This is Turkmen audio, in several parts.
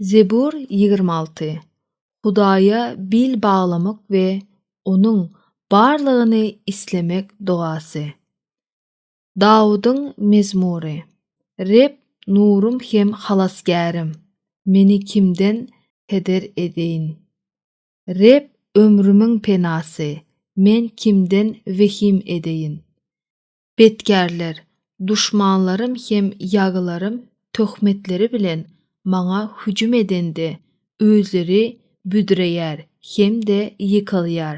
Zebur ýigrimi alty. Hudaýa bil baglamak we Onuň barlygyny islemek dogasy. Dawudyň mezmury. Reb nurym hem halasgärim, meni kimden heder edeýin? Reb ömrümiň penasy, men kimden wehim edeýin? Betkärler, duşmanlarym hem ýagylarym töhmetleri bilen maňa hüjüm edende, özleri büdreýär hem-de ýykylýar.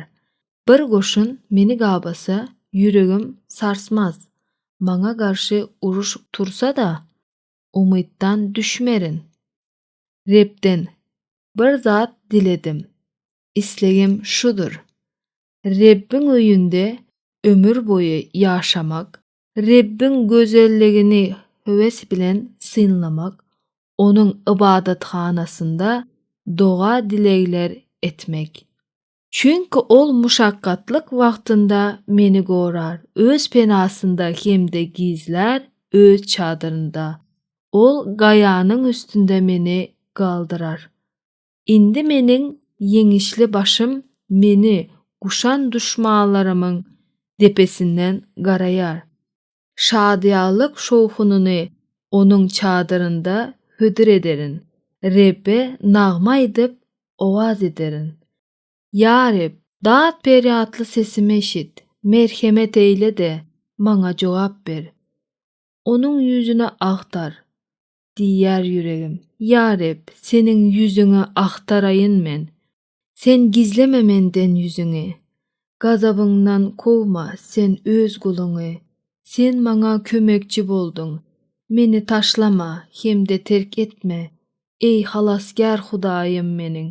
Bir goşun meni gabasa, ýüregim sarsmaz. Maňa garşy uruş tursa-da, umytdan düşmerin. Rebden bir zat diledim. Islegim şudur, Rebbiň öýünde ömür boýy ýaşamak, Rebbiň gözelligini höwes bilen synlamak, Onuň ybadathanasynda doga-dilegler etmek. Çünki Ol muşakgatlyk wagtynda meni gorar, Öz penasynda hem-de gizlär, Öz çadyrynda. Ol gaýanyň üstünde meni galdyrar. Indi meniň ýeňişli başym meni guşan duşmanlarymyň depesinden garaýar. Şadyýanlyk şowhunyny Onuň çadyrynda hödür ederin, Rebbe nagma aýdyp, owaz ederin. Ýa Reb, dat-perýatly sesimi eşit, merhemet eýle-de, maňa jogap ber. Onuň ýüzüni agtar, diýýär ýüregim. Ýa Reb, Seniň ýüzüňi agtaraýyn men. Sen gizleme menden ýüzüňi. Gazabyňdan kowma Sen Öz guluňy. Sen maňa kömekçi bolduň. Meni taşlama hem-de terk etme, eý, Halasgär Hudaýym meniň.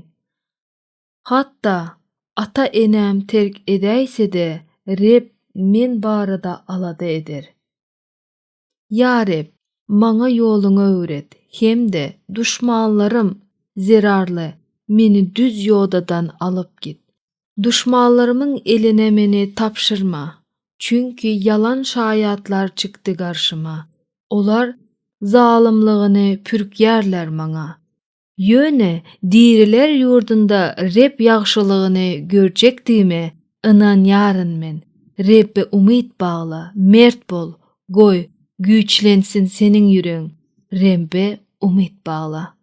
Hatda ata-enem terk edäýse-de, Reb men barada alada eder. Ýa Reb, maňa ýoluňy öwret hem-de duşmanlarym zerarly meni düz ýodadan alyp git. Duşmanlarymyň eline meni tabşyrma, çünki ýalan şaýatlar çykdy garşyma, olar zalymlygyny pürkýärler maňa. Ýöne diriler ýurdunda Reb ýagşylygyny görjekdigime ynanýaryn men. Rebbe umyt bagla, mert bol, goý, güýçlensin seniň ýüregiň, Rebbe umyt bagla.